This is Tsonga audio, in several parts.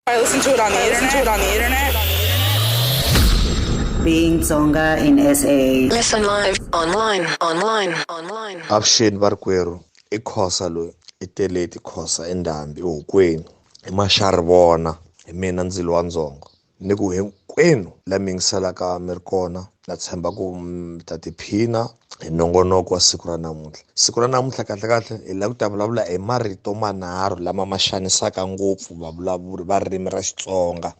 I listen to it on the internet. It on the internet. Being Tsonga in SA. Listen live, online, online, online. Avuxeni varikwerhu i khosa loyi i teleti khosa i ndhambi ehokweni i maxari vona hi mina ndzilo wa ndzongo ni ku hinkwenu la mi yingiselaka mi ri kona na tshemba ku mi ta tiphina hi nongonoko wa siku ra namuntlha siku ra namuntlha kahlekahle hi lava ku ta vulavula hi marito manharhu lama ma xanisaka ngopfu vavulavuri va ririmi ra xitsonga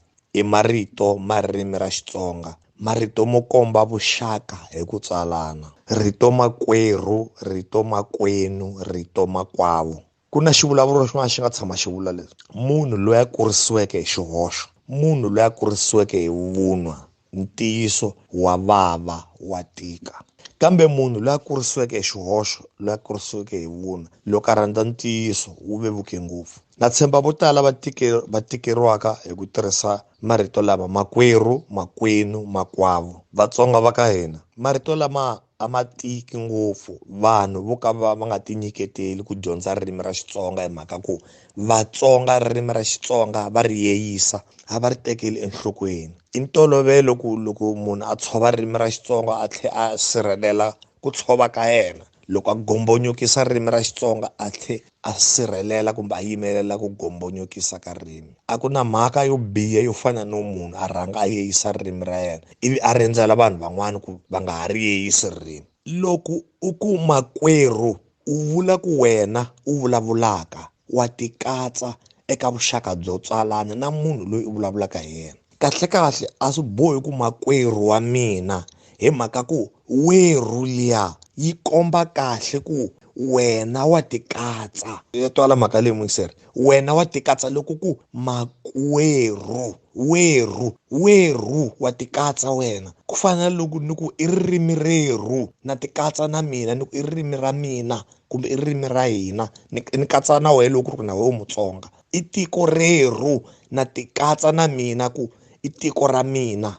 i marito ma ririmi ra xitsonga marito mo komba vuxaka hi ku tswalana rito makwerhu rito makwenu rito makwavo ku na xivulavuro xin'wana xi nga tshama xi vula leswi munhu loyi a kurisiweke hi xihoxo munhu loyi a kurisiweke hi vunwa ntiyiso wa vava wa tika kambe munhu loyi a kurisiweke hi xihoxo loyi a kurisiweke hi vunwa loko a rhandza ntiyiso wu vevuke ngopfu na tshemba vo tala va tike va tikeriwaka hi ku tirhisa marito lama makwerhu makwenu makwavo vatsonga va ka hina marito lama a ma tiki ngopfu vanhu vo ka va va nga ti nyiketeli ku dyondza ririmi ra Xitsonga hi mhaka ku Vatsonga ririmi ra Xitsonga va ri yeyisa a va ri tekeli enhlokweni i ntolovelo ku loko munhu a tshova ririmi ra Xitsonga a tlhe a sirhelela ku tshova ka yena loko a gombonyokisa ririmi ra Xitsonga a tlhe a sirhelela kumbe a yimelela ku gombonyokisa ka ririmi. A ku na mhaka yo biha yo fana no munhu a rhanga a yeyisa ririmi ra yena ivi a rindzela vanhu van'wana ku va nga ha ri yeyisi ririmi. Loko u ku makwerhu, u vula ku wena u vulavulaka, wa tikatsa eka vuxaka byo tswalana na munhu loyi u vulavulaka hi yena. kahlekahle a swi bohi ku makwerhu wa mina hi mhaka ku werhu liya yi komba kahle ku wena wa tikatsa ya twala mhaka leyi muyiseri wena wa tikatsa loko ku makwerhu werhu werhu wa tikatsa wena ku fana na loko ni ku i ririmi rerhu na tikatsa na mina ni ku i ririmi ra mina kumbe i ririmi ra hina ni ni katsa na wena loko ku ri ku na wena u mutsonga I tiko rerhu na tikatsa na mina ku i tiko ra mina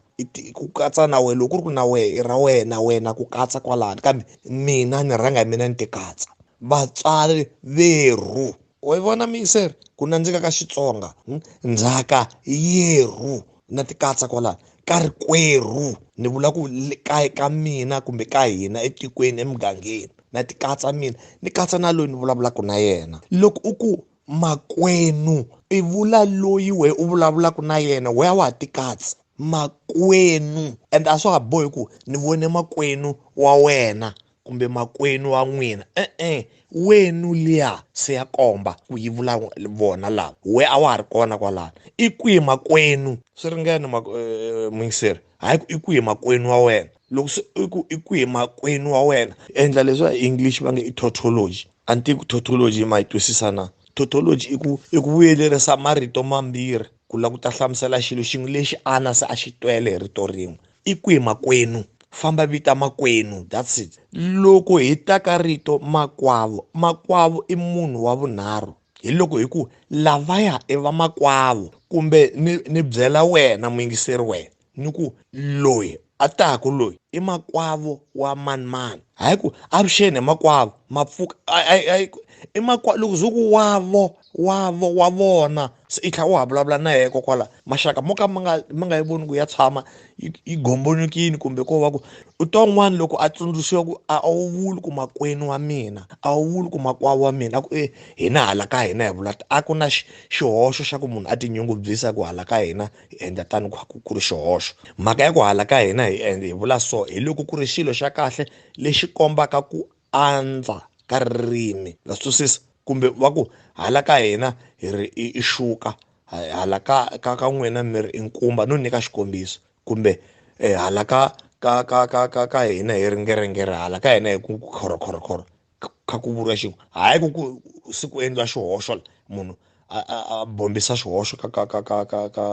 ku katsa na wena loko ku ri ku na wehe i ra wena wena ku katsa kwalano kambe mina ni rhanga hi mina ni ti katsa vatswari verhu wa yi vona miyiseri ku nandzika ka xitsonga hmm? ndzhaka yerhu na ti katsa kwalano ka ri kwerhu ni vula ku ka ka mina kumbe ka hina etikweni emugangeni na ti katsa mina ni katsa na loyi ni vulavulaka na yena loko u ku Makwenu i vula loyi wehe u vulavulaka na yena wehe a wa ha ti katsi makwenu and a swa ha bohi ku ni vone makwenu wa wena kumbe makwenu wa n'wina e-e wenu liya se ya komba ku yi vula vona lava we a wa ha ri kona kwalano i kwihi makwenu swi ringene ma eh, eh, eh, mungiseri hayi ku i kwihi makwenu wa wena loko se i ku i ku hi makwenu wa wena endla leswi va english va nge i tautology a ni tivi ku tautology ma yi twisisa na tautology i ku i ku vuyelerisa marito mambirhi ku lava ku ta hlamusela xilo xin'we lexi ana se a xi twele hi rito rin'we i ku hi makwenu famba vita makwenu that's it loko hi ta ka rito makwavo makwavo i munhu wa vunharhu hi loko hi ku lavaya i vamakwavo kumbe ni ni byela wena muyingiseri wena ni ku loyi a taku loyi i makwavo wa manimani hayi ku avuxeni hi makwavo mapfuka i makwa loko ze ku wavo wavo wa vona se i tlhela u ha vulavula na yena kokwala maxaka mo ka ma nga ma nga yi voni ku ya tshama yi yi gombolokile kumbe ko va ku u twa un'wana loko a tsundzuxiwa ku a wu vuli ku makwenu wa mina a wu vuli ku makwavo wa mina a ku e hina hala ka hina hi vula a ku na xihoxo xa ku munhu a tinyungubyisa ku hala ka hina hi endla tano ku ku ri xihoxo mhaka ya ku hala ka hina hi endla hi vula so hi loko ku ri xilo xa kahle lexi kombaka ku andza ka ririmi na twisisa kumbe va ku hala ka hina hi ri i xuka hala ka ka ka n'wina mi ri i nkumba no nyika xikombiso kumbe eh, hala ka ka ka ka ka ka hina hi ri ngerengere hala ka hina hi ku khorokhorokhoro kha ku vuriwa xin'we hayi ku ku se ku endliwa xihoxo munhu a bombisa xihoxo ka ka ka ka ka ka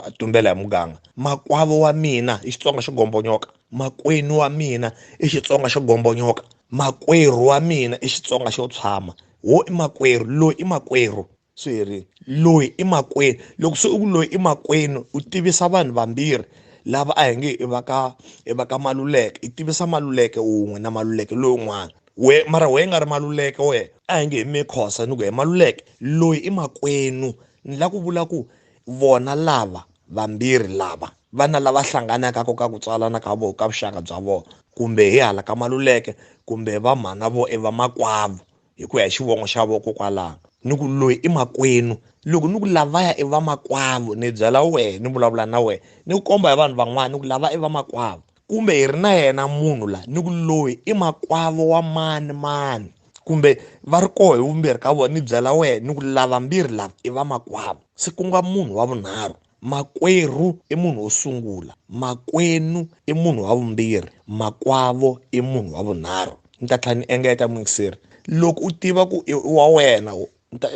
a tumbela hi muganga makwavo wa mina i xitsonga xo gombonyoka makwenu wa mina i xitsonga xo gombonyoka makwerhu wa mina i xitsonga xo tshama wo i makwerhu loyi i makwerhu swi herile loyi i makwenu loko se u ku loyi i makwenu u tivisa vanhu vambirhi lava a hi nge i va ka i va ka maluleke i tivisa maluleke wun'we na maluleke lowun'wana we mara wena nga ri maluleke wena a hi nge hi mikhosa ni ku he maluleke loyi i makwenu ni la ku vula ku vona lava vambirhi lava vana lava hlanganaka ko ka ku tswalana ka vona ka vuxaka bya vona kumbe hi hala ka maluleke kumbe va mhana vo i vamakwavo hi ku ya hi xivongo xa vokokwalano ni ku loyi i makwenu loko ni ku lavaya i vamakwavo ni byela wena ni vulavula na wena ni ku komba hi vanhu van'wana ni ku lava i vamakwavo kumbe hi ri na yena munhu la ni ku loyi i makwavo wa mani mani kumbe va ri koho hi vumbirhi ka vona ni byela wena ni ku lava mbirhi lava i vamakwavo se ku nga munhu wa vunharhu Makwerhu i munhu wo sungula. Makwenu i munhu wa vumbirhi. Makwavo i munhu wa vunharhu. Ni ta tlhela ni engeta muingiseri. Loko u tiva ku i wa wena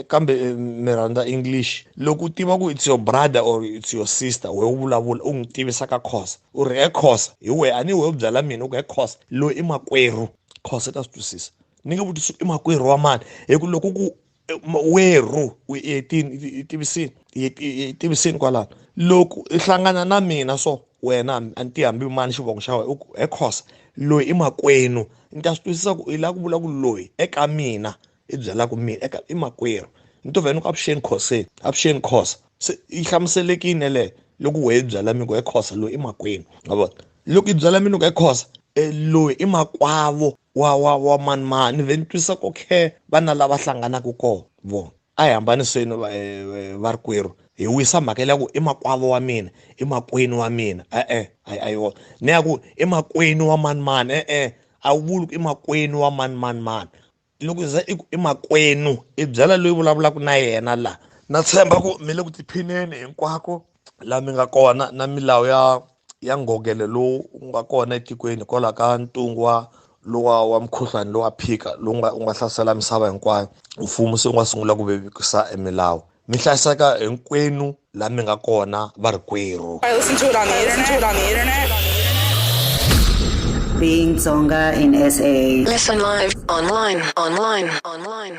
kambe mi rhandza English. Loko u tiva ku it's your brother or it's your sister wehe u vulavula u n'wi tivisa ka Khosa u ri he Khosa hi wehe a ni wehe u byela mina u ku he Khosa loyi i makwerhu Khosa i ta swi twisisa ni nge vutisi i makwerhu wa mani hi ku loko ku werhu yetini tivisini tivisini kwalano loko i hlangana na mina so wena a ni ti hambi mani xivongo xa wena he khosa loyi i makwenu ni ta swi twisisa ku i lava ku vula ku loyi eka mina i byelaka mina eka i makwerhu ni to vhela ni ku avuxeni khoseni avuxeni khosa se yi hlamuselekini yeleyo loko wehe byela mi ku he khosa loyi i makwenu ma vona loko i byela mina ku he khosa e loyi i makwavo wa wa wa manimani ve ni twisa ku khe vana lava hlanganaka kona vo a hi hambaniseni eh, va ri kwerhu hi wisa mhaka leya ku i makwavo wa mina i makwenu wa mina e-e a yi wona ni ya ku i makwenu wa manimani e-e a wu vuli ku i makwenu wa manimanimani loko za i ku i makwenu i byela loyi vulavulaka na yena laha na tshemba ku mi le ku tiphineni hinkwako la mi nga kona na milawu ya ya ngogele lowu wu nga kona etikweni hikwalaho ka ntungu wa lowa wa mukhuhlwani lowa phika lowu nga wu nga hlasela misava hinkwayo mfumo se wu nga sungula ku vevukisa emilawu mi hlayiseka hinkwenu la mi nga kona va ri kwerhu Being Tsonga in SA. Listen live, online, online, online.